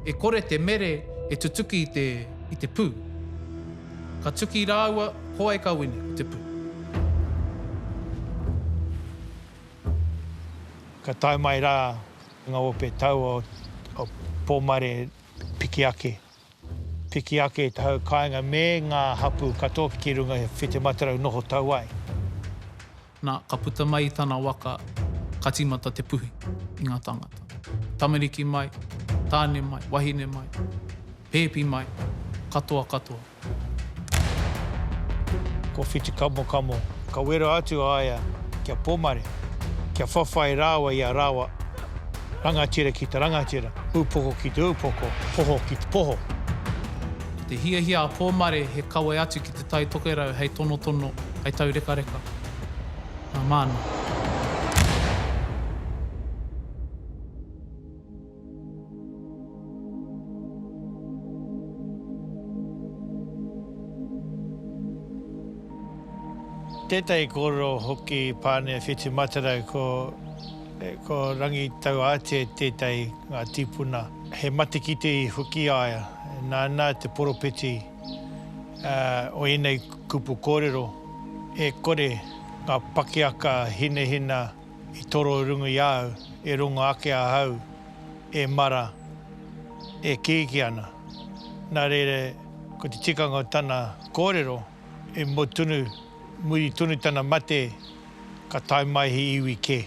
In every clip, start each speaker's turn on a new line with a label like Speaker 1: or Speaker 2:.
Speaker 1: E kore te mere e tutuki i te, i te pū. Ka tuki rāua, ko ai ka wini, ko te pū.
Speaker 2: Ka tae mai rā ngā ope tau o Pōmare piki ake. Piki ake i te hau kāinga me ngā hapū katoa ki runga i a Whitimatarau noho tau ai. Nā,
Speaker 1: ka puta mai i tana waka ka tīmata te puhi i ngā tāngata. Tamariki mai, tāne mai, wahine mai, pēpi mai, katoa katoa.
Speaker 2: Ko Whitikamokamo ka wero atu a ia ki a Pomare kia whawhai rāua i a rāua. Rangatira ki te rangatira, upoko ki te upoko, poho ki te poho. Ko te
Speaker 1: hiahia a Pōmare he kawe atu ki Te Tai Tokerau hei tonotono, hei taurekareka. Nā Māna.
Speaker 2: Tētahi kōrero hoki i Pane Whitimatarau ko Ko Rangitauātea tētahi ngā tīpuna. He matekite i Whukiaea, nāna te poropiti o ēnei kupu kōrero, E kore ngā pakiaka hinahina i toro rungu i a au, e rongo ake ahau e mara, e kīkī ana. Nā reira, ko te tikanga o tana kōrero, i mua tonu. Muri tonu tana mate, ka tae mai he iwi kē,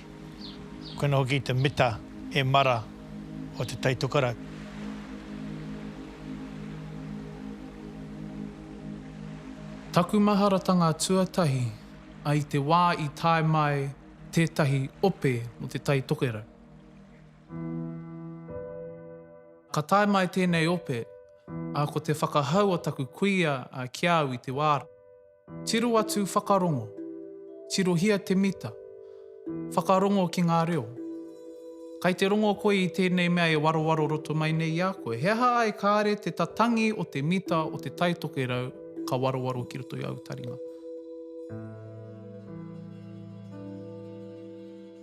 Speaker 2: koina hoki te mita e mara o Te Tai Tokerau.
Speaker 1: Taku maharatanga tuatahi a i te wā i tae mai tētahi ope mō Te Tai Tokerau. Ka tae mai tēnei ope, ā, ko te whakahau o taku kuia ki a au i te wā rā. Tiro atu whakarongo. Tirohia te mita. Whakarongo ki ngā reo. Kai te rongo koe i tēnei mea e warowaro roto mai nei i a koe? He aha ai kāre te tatangi o te mita o te Tai Tokerau ka warowaro ki roto i āu taringa?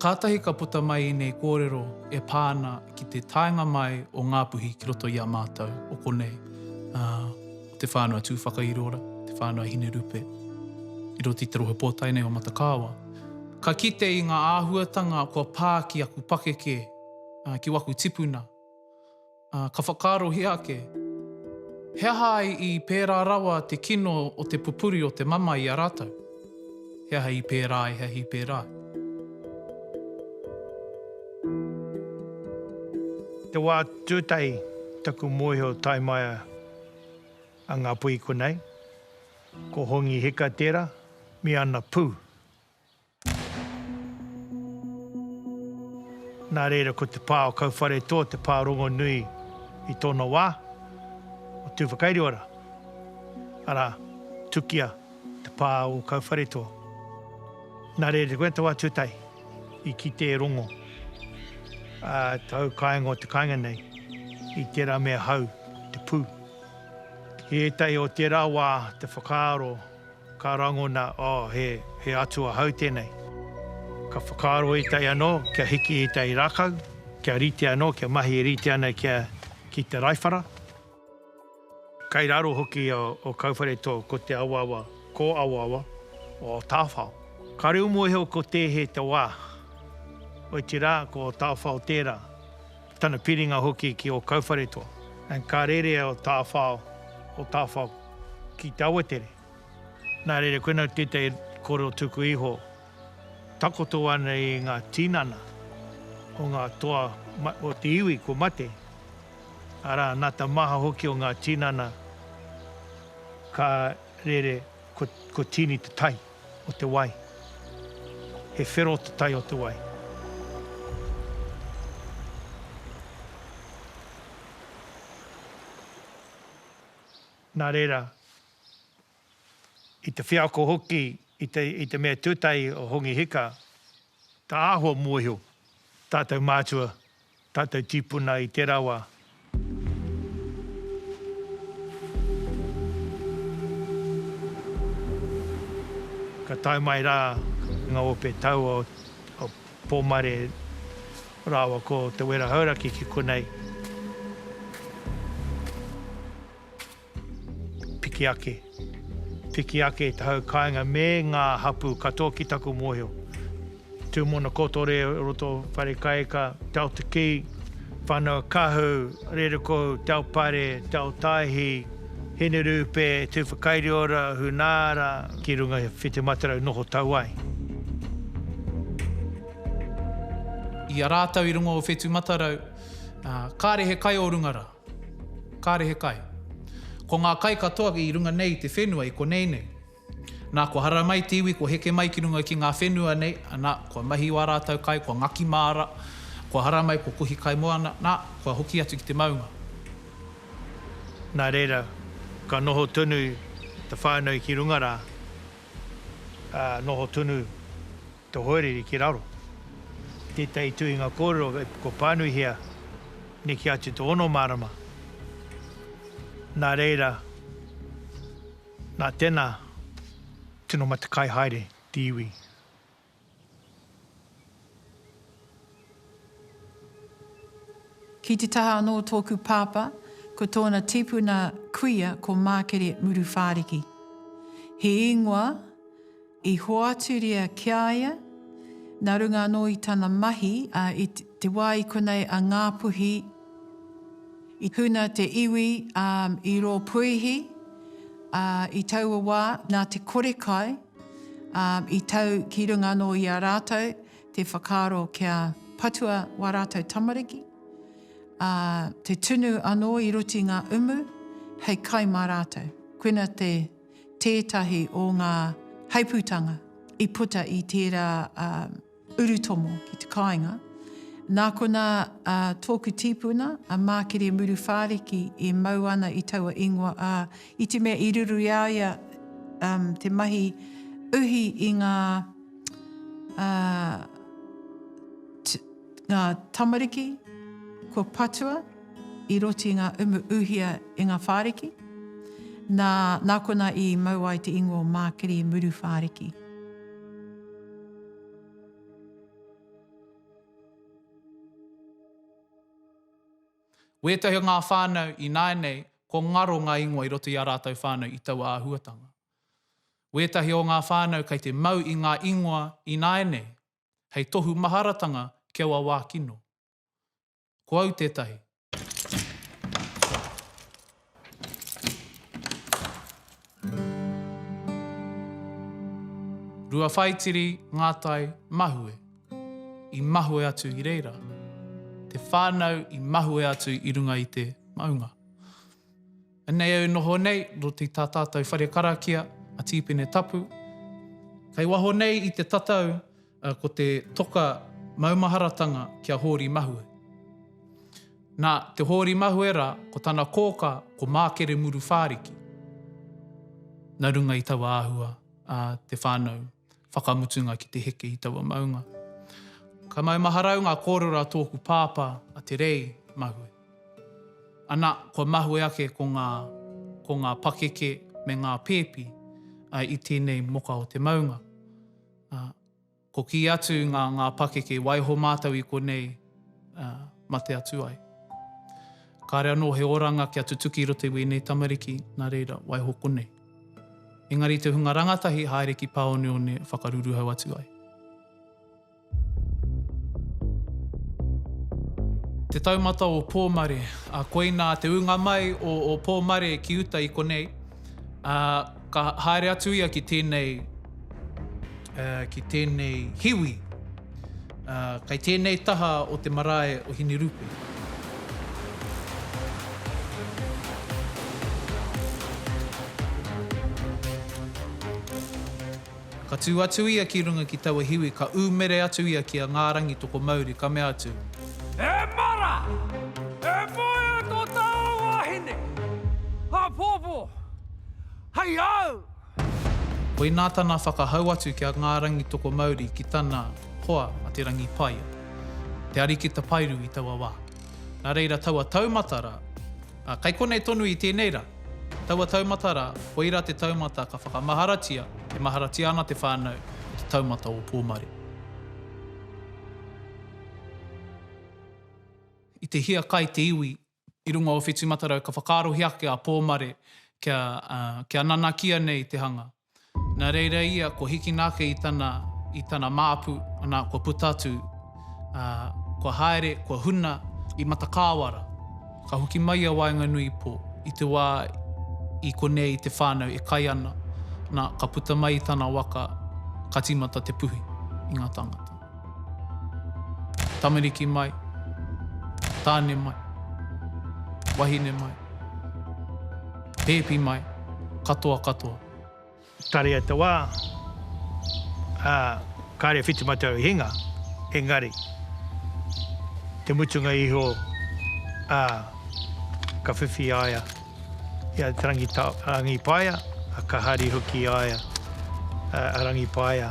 Speaker 1: Kātahi ka puta mai ēnei kōrero e pā ana ki te taenga mai o Ngāpuhi ki roto i a mātou, o konei. Te Whānau Tūwhakairoora, Te Whānau Hinerupe, i roto i te rohe pōtae nei o Matakāoa. Ka kite i ngā āhuatanga kua pā ki aku pakeke, ki waku tipuna. Ka whakaarohia ake, he aha ai i pērā rawa te kino o te pupuri o te mamae i a rātou? He aha i pērā ai, he aha i pērā ai?
Speaker 2: Te wā tūtahi taku mōhio tae maia. a Ngāpuhi konei, ko Hongi Hika tērā, me ana pū. Nā reira ko te pā o Kauwharetoa te pā rongonui i tōna wā, o Tūwhakairiora, arā, Tukia. Te pā o Kauwharetoa. Nā reira, te wetau a Tūtahi i kite e Rongo, ā, tāu kāinga o te kāinga nei, i tērā mea hau te pū. I ētahi o tērā wā te whakaaro ka rangona, oh, he, he atua hau tēnei. Ka whakaaro ētahi anō kia hiki i ētahi rākau, kia rite anō, kia mahi e rite ana kia, ki te raiwhara. Kei raro hoki o Kauwharetō ko te awaawa, ko awaawa, o Tāwhao. Ka reo mōhio ko Tēhe te wā, otirā ko Tāwhao tērā, tana piringa hoki ki o Kauwharetō. Ka rere o Tāwhao, o Tāwhao ki te awatere. Nā reira koinā tētahi kōrero tuku iho. Takoto ana i ngā tinana o ngā toa o te iwi kua mate, arā, nā te maha hoki o ngā tinana ka rere kua tīni te tai o te wai. He whero te tai o te wai. Nā reira. i te wheako hoki i te mea tūtahi o Hongi Hika, ka āhua mōhio tātou mātua, tātou tīpuna i tērā wā. Ka tae mai rā ngā ope tau o Pōmare rāua ko Te Wera Hauraki ki konei. Piki ake, piki ake i te hau kāinga me ngā hapū katoa ki taku mōhio. Tūmona kotore o roto Wharekaeka, Te Ao Te Kī, Whanau Kahu, Rerekohu, Te Ao Pare, Te Ao Tāihi, Hinerupe, Tūwhakairiora, Hunaara, ki runga i Whitimatarau noho tau ai.
Speaker 1: I a rātou i runga o Whetumatarau, kāre he kai o runga ra. Kāre he kai. Ko ngā kai katoa i runga nei i te whenua i konei nei. Nā, kua hara mai te iwi, kua heke mai ki runga ki ngā whenua nei, nā, kua mahi wā rātou kai, kua ngaki māra, kua hara mai, kua kohi kai moana, nā, kua hoki atu ki te maunga. Nā
Speaker 2: reira, ka noho tonu te whānau ki runga rā, ā, noho tonu. Te hoariri ki raro. Tētahi tuhinga kōrero ko pānuihia neke atu te ono marama. Nā reira, nā tēnā, tino matakai haere te iwi.
Speaker 3: Ki te taha anō o tōku pāpā, ko tōna tīpuna kuia ko Mākere Muruwhāriki. He īngoa. I hoaturia ki a ia, nā runga anō i tana mahi, ā, i te wā i konei a Ngāpuhi i tuna te iwi, ā, i rō puihi, ā, i taua wā, nā te kore kai, ā, i tau ki runga anō i a rātou te whakaaro kia patua wā rātou tamariki, ā, te tunu anō i roti ngā umu hei kai mā rātou. Koina te. tētahi o ngā heipūtanga i puta i tērā urutomo ki te kāinga. Nā konā tōku tīpuna, a Mākere Muru Whāriki, e mau ana i taua ingoa, ā, i te mea i ruru i a ia te mahi uhi i ngā tamariki kua patua, I roti nga umu uhia i nga whariki, na, na kona i mau ai te ingoa o Makiri muru whariki.
Speaker 1: Wetahi o nga whanau i nae nei, ko ngaro nga ingoa i roto i a ratou whanau i taua ahuatanga. Wetahi o nga whanau kei te mau i nga ingoa i nae nei, hei tohu maharatanga ki aua wa kino. Ko au tētahi. Rua whaitiri ngā tai mahue i mahue atu i reira. Te whānau i mahue atu i runga i te maunga. Anei au noho nei, roti i tā tātou whare karakia, a Tīpene Tapu. Kei waho nei i te tatau, Ko te toka maumaharatanga ki a Hōri Mahue. Nā Te Hōri Mahue rā, ko tana kōkā ko Mākere Muru Whāriki. Nā runga i taua āhua a te whānau whakamutunga ki te heke i taua maunga. Ka maumaharau ngā kōrero a tōku pāpā a Te Rei Mahue. Anā, kua mahue ake ko ngā, ko ngā pakeke me ngā pēpi i tēnei moka o te maunga. ā, ko kī atu ngā, ngā pakeke, waiho mātou i konei, ā, mate atu ai. Kāre anō he oranga kia tutuki i roto i wēnei tamariki, nā reira, waiho konei. Engari i te hunga rangatahi, haere ki pāoneone, whakaruruhau atu ai. Te taumata o Pōmare, ā, koinā te ūnga mai o, o Pōmare ki uta i konei, ā, Ka haere atu ia ki tēnei, ki tēnei hiwi, kei tēnei taha o te marae o Hinerupe. Ka tū atu ia ki runga ki taua hiwi, ka ūmere atu ia ki a Ngā Rangi Tokomauri, ka mea atu. He
Speaker 4: mara! He moe tō tāu wāhine! Apōpō! Hei au!
Speaker 1: Koinā tana whakahau atu ki a Ngā Rangitokomauri ki tana hoa a Te Rangipaia, te ariki tapairu i taua wā. Nā reira taua taumata rā, ā, kei konei tonu i tēnei rā, taua taumata rā, koirā te taumata ka whakamaharatia, e maharatia ana te whānau, ko te taumata o Pōmare. I te hiakai te iwi i runga o Whetumatarau ka whakaarohia ake a Pōmare kia, ā, kia nanakia nei te hanga. Nā reira ia kua hikina ake i tana, i tana māpu, anā, kua puta atu, ā, kua haere, kua huna i Matakāwara. Ka hoki mai a waenganui pō, i te wā i konei i te whānau e kai ana, nā, ka puta mai i tana waka, ka tīmata te puhi i ngā tāngata. Tamariki mai, tāne mai, wahine mai, pēpi mai, katoa katoa. Tarea
Speaker 2: te wā, ā, kāre e whiti mai te rau i hinga, engari, te mutunga iho, ā, ka whiwhi i a ia. I a Te Rangipaea, ka hari hoki a ia, a Rangipaea,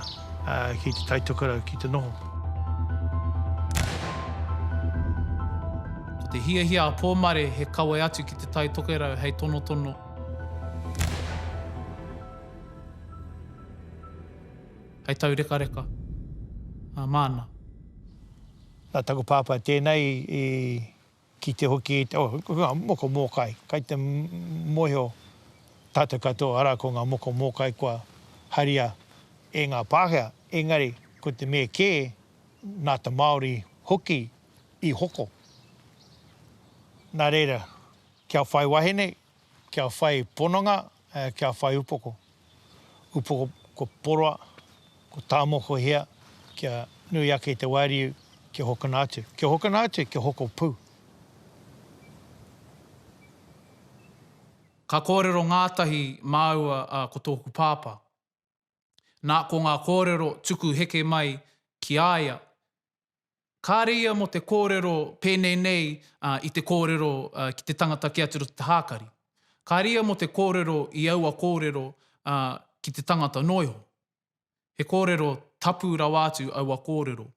Speaker 2: ki Te Tai Tokerau ki te noho.
Speaker 1: Ko te hiahia a Pōmare he kawe atu ki Te Tai Tokerau hei tonotono. Hei taurekareka māna.
Speaker 2: Nā taku pāpā tēnei i Kite hoki i te hunga moko mōkai, kai te mōhio tātou katoa, arā, ko ngā moko mōkai kua haria e ngā Pākehā, engari ko te mea kē, nā te Māori hoki i hoko. Nā reira, kia whai wahine, Kia whai pononga, kia whai upoko. Upoko ko poroa, ko tāmokohia kia nui ake te wāriu kia hokona atu. Kia hokona atu, kia hoko pū.
Speaker 1: Ka kōrero ngātahi māua a ko tōku pāpā. Nā, ko ngā kōrero tuku heke mai ki a ia, kāre ia mō te kōrero pēnei nei i te kōrero ki te tangata kē atu roto te hākari. Kāre ia mō te kōrero i aua kōrero ki te tangata noa iho. He kōrero tapu rawa atu aua kōrero.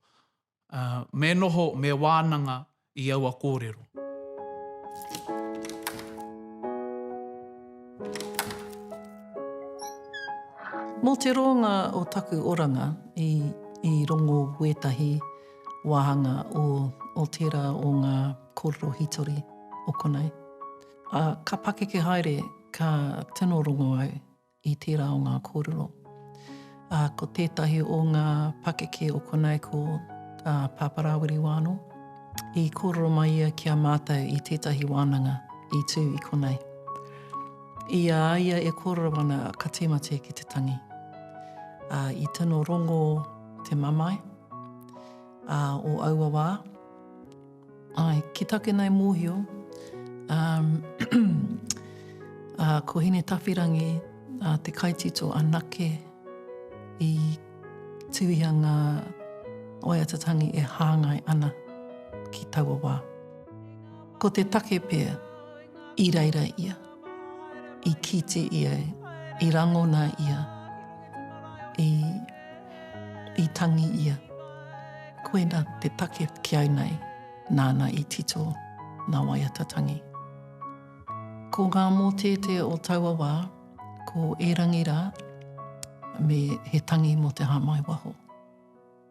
Speaker 1: Me noho, me wānanga i aua kōrero.
Speaker 5: Mō te rōnga o taku oranga i rongo wētahi wāhanga o tērā o ngā kōrero hītori o konei. Ka pakeke haere, ka tino rongo au. i tērā o ngā kōrero. Ā, ko tētahi o ngā pakeke o konei ko a Pāpā Rāwiri Wāno. I kōrero mai ia ki a mātou i tētahi wānanga i tū i konei. I a ia e kōrero ana ka tīmate ki te tangi. Ā, i tino rongo te mamae, ā, o aua wā, Ae, ki take nei mohio, um, a ko Hinetawhirangi a te kaitito anake i tuhia nga oiatatangi e hangai ana ki taua wa. Ko te take pea i reira ia. i kite ia, i rangona ia, i, i tangi ia. Koina te take ki au nei, nāna i tito nā waiata tangi. Ko ngā mōteete o taua wā, ko Erangi rā, me He Tangi mō te Hāmai Waho.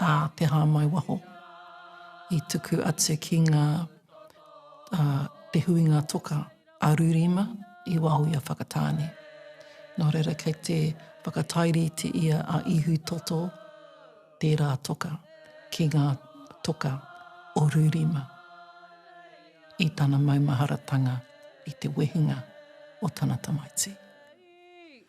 Speaker 5: ā te hāmai waho i tuku atu ki ngā Te Huinga Toka a Rurima i waho i a Whakatāne. Nō reira kei te whakatairite ia a Ihu Toto tērā toka ki ngā toka o Rurima i tana maumaharatanga i te wehenga o tana tamaiti.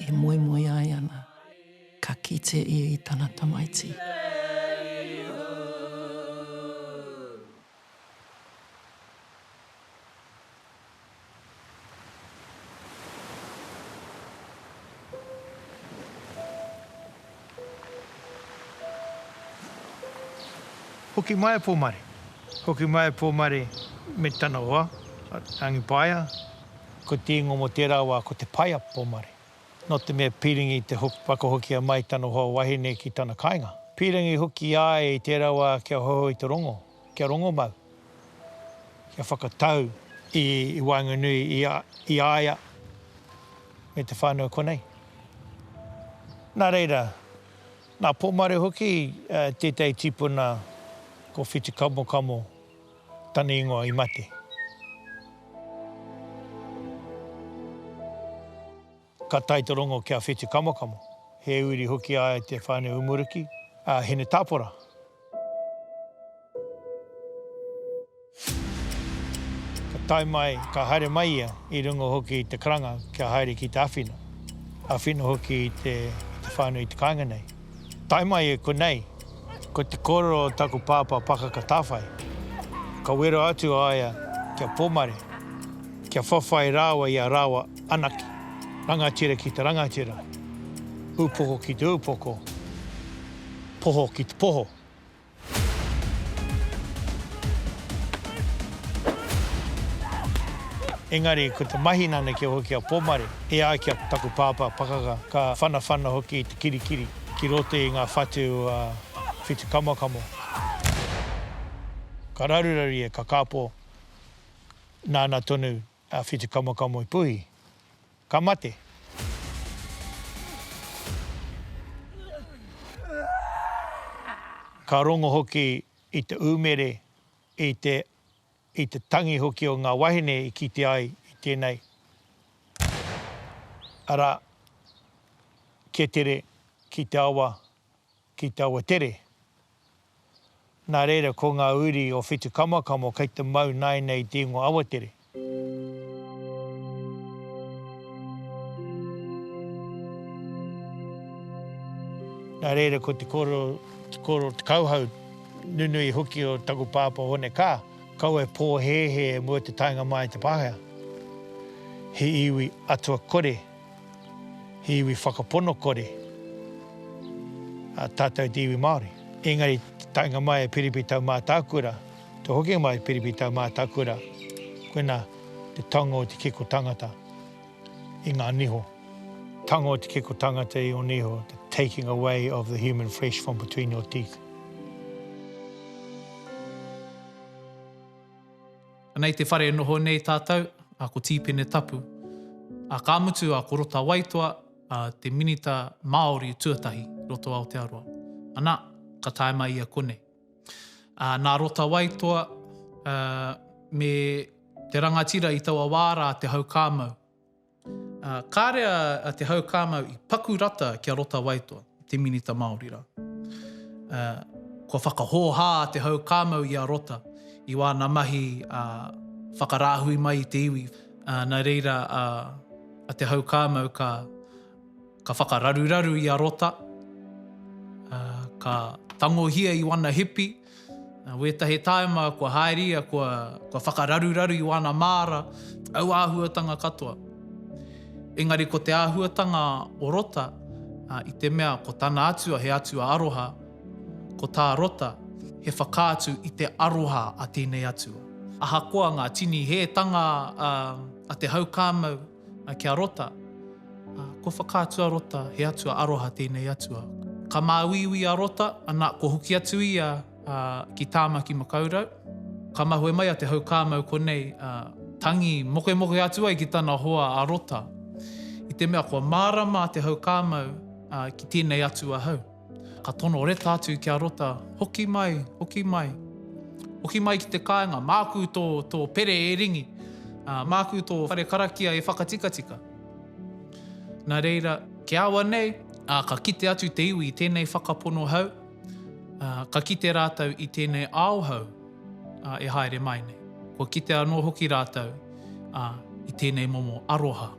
Speaker 5: e moemoe ai ana, ka kite ia i tana tamaiti.
Speaker 2: Hoki mai a Pōmare. Hoki mai a Pōmare me tana hoa, a Rangipaea. Ko te ingoa mo tērā wā ko te paia pomare. Nō te mea pīrangi te whakahokia mai tana hoa wahine ki tana kāinga. Pīrangi hoki i a ia i tērā wā kia hoho i te rongo, kia rongomau, kia whakatau i waenganui i a ia me te whānau konei. Nā reira, nā Pomare hoki tētahi tīpuna ko Whitikamokamo. Tana ingoa i mate. Ka tae te rongo ki a Whetu Kamokamo, he uri hoki a ia i te whānau Umuruki, a Hinetapora. Ka tae mai, ka haere mai ia i runga hoki i te karanga kia haere ki te awhina, awhina hoki i te whānau i te kāinga nei. Tae mai e konei, ko te kōrero o taku pāpā pakaka tāwhai, ka wero atu a ia ki a Pōmare, kia whawhai rāua i a rāua anake, rangatira ki te rangatira, upoko ki te upoko, poho ki te poho. Engari, ko te mahi nana kia hoki a Pomare, e ai ki a taku pāpā pakaka, ka whanawhana hoki i te kirikiri ki roto i ngā whatu a Whitukamokamo. Ka raruraru ia, ka kāpō, nāna tonu A whitu kamakamo i puhi, ka mate. Ka rongo hoki i te umere, i te, i te tangi hoki o nga wahine i kite ai i tenei, ara, ketere ki te awa, ki taua tere. Nā reira ko ngā uri o Whetukamakamo kei te mau nāina i te ingoa Awatere. Nā reira ko te kōrero, te kōrero, te kauhau nunui hoki o taku pāpā Hone Kā, Kawe pōhēhē e mua te taenga māi te Pākehā. He iwi atua kore. He iwi whakapono kore tātou te iwi Māori. Engari te taenga mai e Piripi Tau Mātākura, te hokinga mai e Piripi Tau Mātākura, koina te tango o te kiko tangata i ngā niho. Tango o te kiko tangata i o niho, the taking away of the human flesh from between your teeth.
Speaker 1: Ana i te whare e noho nei tātou, a ko Tīpene Tapu, a ka mutu a ko Rota Waitoa, a te Minita Māori tuatahi i roto Aotearoa. Ana, ka tae mai ia konei. A, nā Rota Waitoa, a, me te rangatira i taua wā rā te hau kāmau. Ā, kāre a, a Te Haukāmau i paku rata ki a Rota Waitoa, te minita Māori rā. Ā, kua whakahōhā a Te Haukāmau i a Rota i wāna mahi, ā, whakarāhui mai i te iwi. Ā, nā reira a, a Te Haukāmau ka, ka whakararuraru i a Rota, ā, ka tangohia i wana hipi, Nā wētahi tāima kua haeria, kua, kua whakararuraru i wāna māra, au āhuatanga katoa. Engari ko te āhuatanga o Rota, i te mea ko tana atua he atua aroha, ko tā Rota he whakaatu i te aroha a tēnei atua. Ahakoa ngā tini hētanga a te haukāmau, a kia rota, a, ko whakaatu a rota, he atua aroha tēnei atua. Ka māuiui a rota, ana, ko hoki atu ia, a, ki Tāmaki Makaurau. Ka mahue mai a Te Haukāmau konei, a, tangi mokemoke atu ai ki tana hoa a rota, i te mea kua mārama a Te Haukāmau, a, ki tēnei atua hau. Ka tono reta atu ki a Rota, Hoki mai, hoki mai. Hoki mai ki te kāinga, māku tō, tō pere e ringi, ā, māku tō whare karakia e whakatikatika. Nā reira, ki a au anei, ā, ka kite atu te iwi i tēnei whakapono hau, ā, ka kite rātou i tēnei ao hau, ā, e haere mai nei. Kua kite anō hoki rātou, ā, i tēnei momo aroha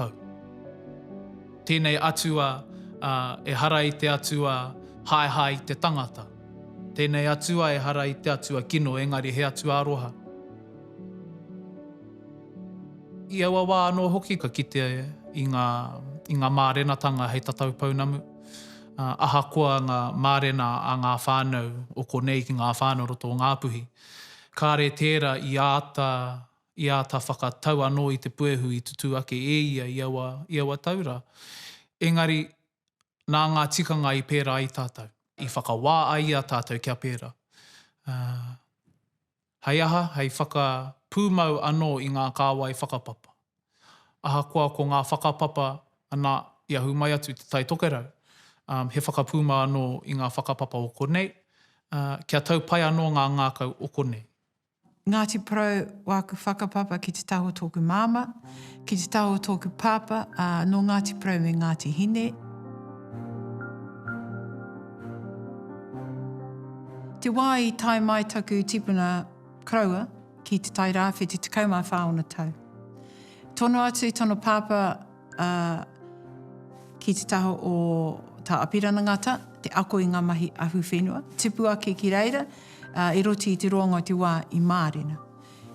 Speaker 1: hau. Tēnei Atua, ā, ehara i te Atua haehae i te tangata. Tēnei Atua ehara i te Atua kino, engari he Atua aroha. I aua wā anō hoki ka kite i ngā, i ngā mārenatanga hei tatau pounamu, ā, ahakoa ngā mārena a ngā whānau o konei ki ngā whānau o roto o Ngāpuhi, kāre tērā i āta i āta whakatau anō i te puehu i tutū ake e ia i aua, i aua tau rā. Engari, nā ngā tikanga i pērā ai tātou. I whakawā ai i a tātou kia pērā. Ā, hei aha? Hei whakapūmau anō i ngā kāwai whakapapa. Ahakoa ko ngā whakapapa, anā, i ahu mai atu i Te Tai Tokerau, ā, he whakapūmau anō i ngā whakapapa o konei, ā, kia tau pai anō ngā ngākau o konei. Ngāti
Speaker 3: Porou, wāku whakapapa ki te taha o tōku māmā, ki te taha o tōku pāpā, ā, nō Ngāti Porou me Ngāti Hine. Te wā i tae mai taku tipuna koroua ki Te Tai Rāwhiti, 14 ōna tau. Tono atu tana pāpā, Ā, ki te taha o Tā Apirana Ngata, te ako i ngā mahi ahu whenua, tipu ake ki reira, ā, i roti i te roanga o te wā i mārena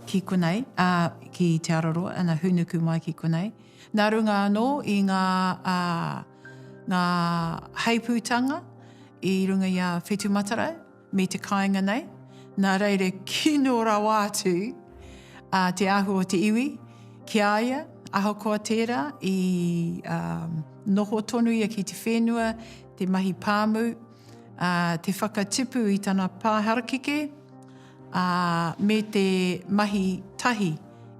Speaker 3: ki konei, ā, ki Te Araroa, ana hūnuku mai ki konei. Nā runga anō i ngā, ā, ngā heipūtanga i runga i a Whetumatarau, me te kāinga nei, nā reira kino rawa atu te ahu o te iwi ki a ia, ahakoa tērā, i noho tonu ia ki te whenua, te mahi pāmu, te whakatipu i tana pā harakeke, me te mahi tahi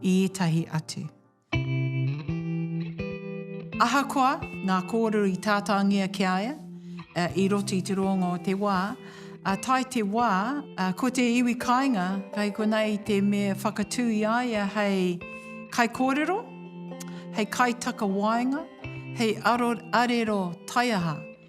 Speaker 3: i ētahi atu. Ahakoa ngā kōrero i tātāngia ki a ia i roto i te roanga o te wā, ā tae te wā, ko te iwi kāinga hei konei te me whakatū i a ia hei kaikōrero, hei kaitakawaenga, hei arero taiaha.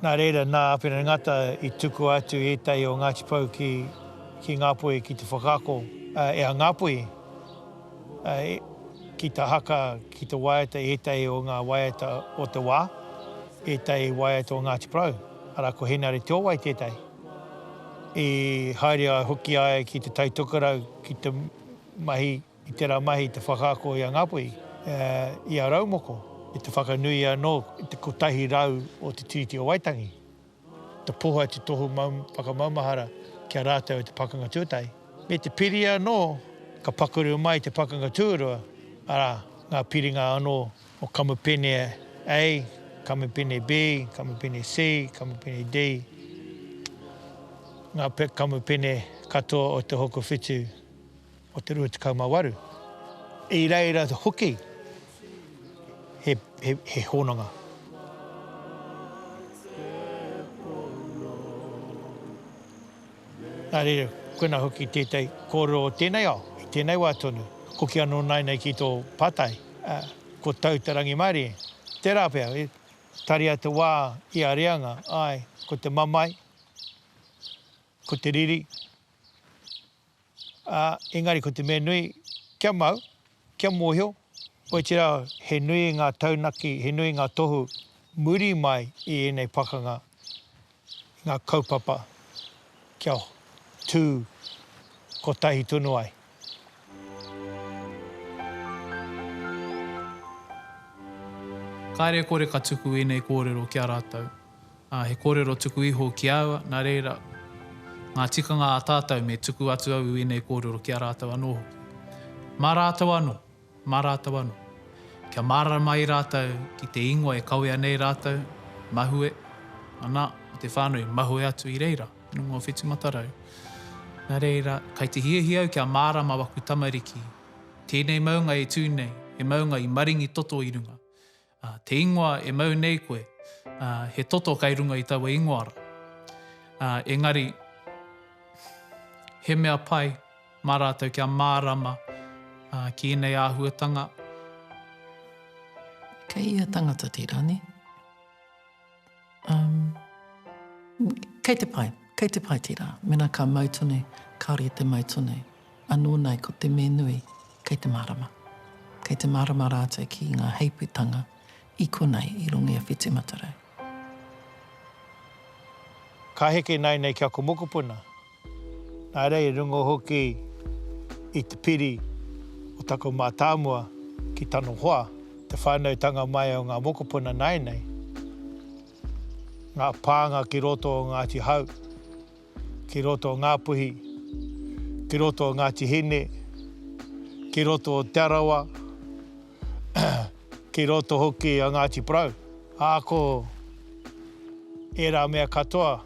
Speaker 2: Nā reira, nā Apirana Ngata i tukua atu ētahi o Ngāti Pou ki ki Ngāpuhi ki te whakaako e a Ngāpuhi ki te haka, ki te waiata ētahi o ngā waiata o te wā, ētahi waiata o Ngāti Porou, arā, ko Henare Te Owai tētahi. I haere ai hoki ai ki te taitokerau ki te mahi I tērā mahi te whakaako i a Ngāpuhi, i a Raumoko, i te whakanui anō i te kotahi rau o te Tiriti o Waitangi, te poho atu tohu whakamaumahara ki a rātou e te Pakanga Tuatahi. Me te piri anō, ka pakuru mai te Pakanga Tuarua, arā, ngā piringa anō o Kamupene A, Kamupene B, Kamupene C, Kamupene D, ngā kamupene katoa o Te Hokowhitu. o te 28, i reira hoki he, he, he hononga. Nā reira, koina hoki tētai kōrero o tēnei ao, i tēnei wā tonu, hoki anō nāinei ki tō pātai, uh, ko tau te rangimārie. Tērā pea, e, taria te wā i a reanga, ai, ko te mamae, ko te riri, Ā, engari ko te mea nui, kia mau, kia mōhio, otirā, he nui ngā taunaki, he nui ngā tohu muri mai i ēnei pakanga, i ngā kaupapa kia tū kotahi tonu ai.
Speaker 1: Kāre kore ka tuku ēnei kōrero ki a rātou. Ā, he kōrero tuku iho ki a aua, nā reira, ngā tikanga a tātou me tuku atu au i ēnei kōrero ki a rātou anō hoki. Mā rātou anō, mā rātou anō. Kia mārama ai rātou ki te ingoa e kawea nei rātou, mahue, anā, o te whānau i mahue atu i reira, te nunga o Whetumatarau. Nā reira, kai te hiahia au kia mārama waku tamariki, tēnei maunga e tū nei, he maunga i maringi toto i runga, Ā, te ingoa e mau nei koe, ā, he toto kei runga i taua ingoa rā. Ā, engari, he mea pai mā rātou kia mārama, ā, ki ēnei āhuatanga.
Speaker 5: Kei ia tangata tērā, nē? Um, kei te pai, kei te pai tērā. Mena ka mau tonu, kāore i te mau tonu. Anō nei, ko te me nui, kei te mārama. Kei te mārama rātou ki ngā heiputanga i konei, i rongo i a Whiti Matarau.
Speaker 2: Ka heke nāianei ki aku mokopuna, Nā reira i runga hoki i te piri o taku mātāmua ki tana hoa, te whānautanga mai o ngā mokopuna nāianei, ngā pānga ki roto o Ngāti Hau, ki roto o Ngāpuhi, ki roto o Ngāti Hine, ki roto o Te Arawa, ki roto hoki a Ngāti Porou. Ā, ko ērā mea katoa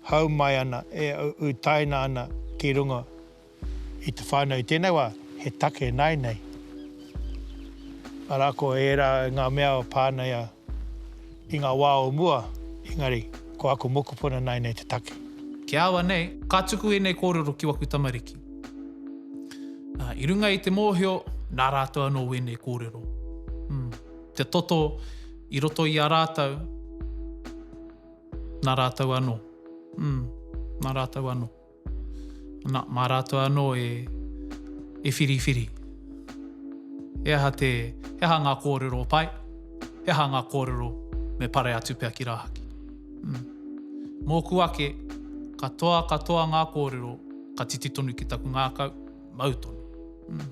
Speaker 2: hau mai ana, e utaina ana ki runga i te whānau. I tēnei wā, he take nāinei. Arā, ko ērā ngā mea pānei i ngā wā o mua, engari, ko aku mokopuna nāinei te take. Ki a au anei,
Speaker 1: ka tuku ēnei kōrero ki waku tamariki. Ā, i runga i te mōhio, nā rātou anō wēnei kōrero. Te toto i roto i a rātou. Nā rātou anō. Mm, nā rātou anō. Nā, mā rātou anō e, e whiriwhiri. He aha te, he aha ngā kōrero pai, he aha ngā kōrero me pare atu pea ki rāhaki. Mm. Mōku ake, katoa, katoa ngā kōrero, ka titi tonu ki taku ngākau, mau tonu. Mm.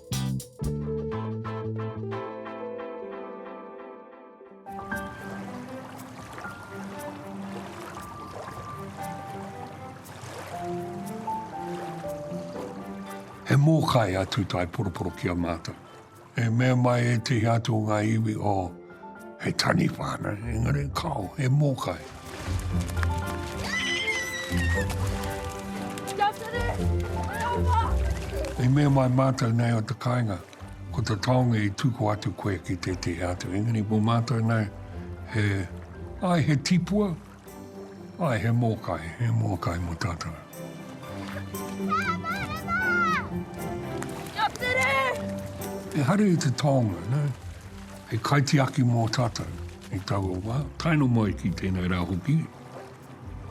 Speaker 6: He mōkai a Tūtaeporoporo ki a mātou. E mea mai ētehi atu o ngā iwi o. He taniwha ana, engari kao, he mōkai. Kia tere! Kia wha! I mea mai mātou nei o te kāinga, ko te taonga i tuku atu koe ki tētehi atu. Engari mō mātou nei, he, ai, he tipua, Ae, he mōkai, he mōkai mō tātou. Kia tere! He haere i te taonga, ne? He kaitiaki mō tātou i taua wā. Taino mai ki tēnei rā hoki.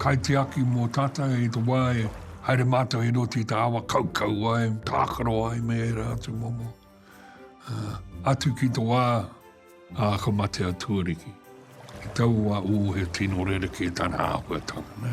Speaker 6: Kaitiaki mō tātou i te wā e haere mātou i roti i te awa kaukau ai, tākaro ai me ērā atu momo. Atu ki to wa, a ka mate a Tuariki. Ki tau wa u he tino rereke tana ahuatanga, ne.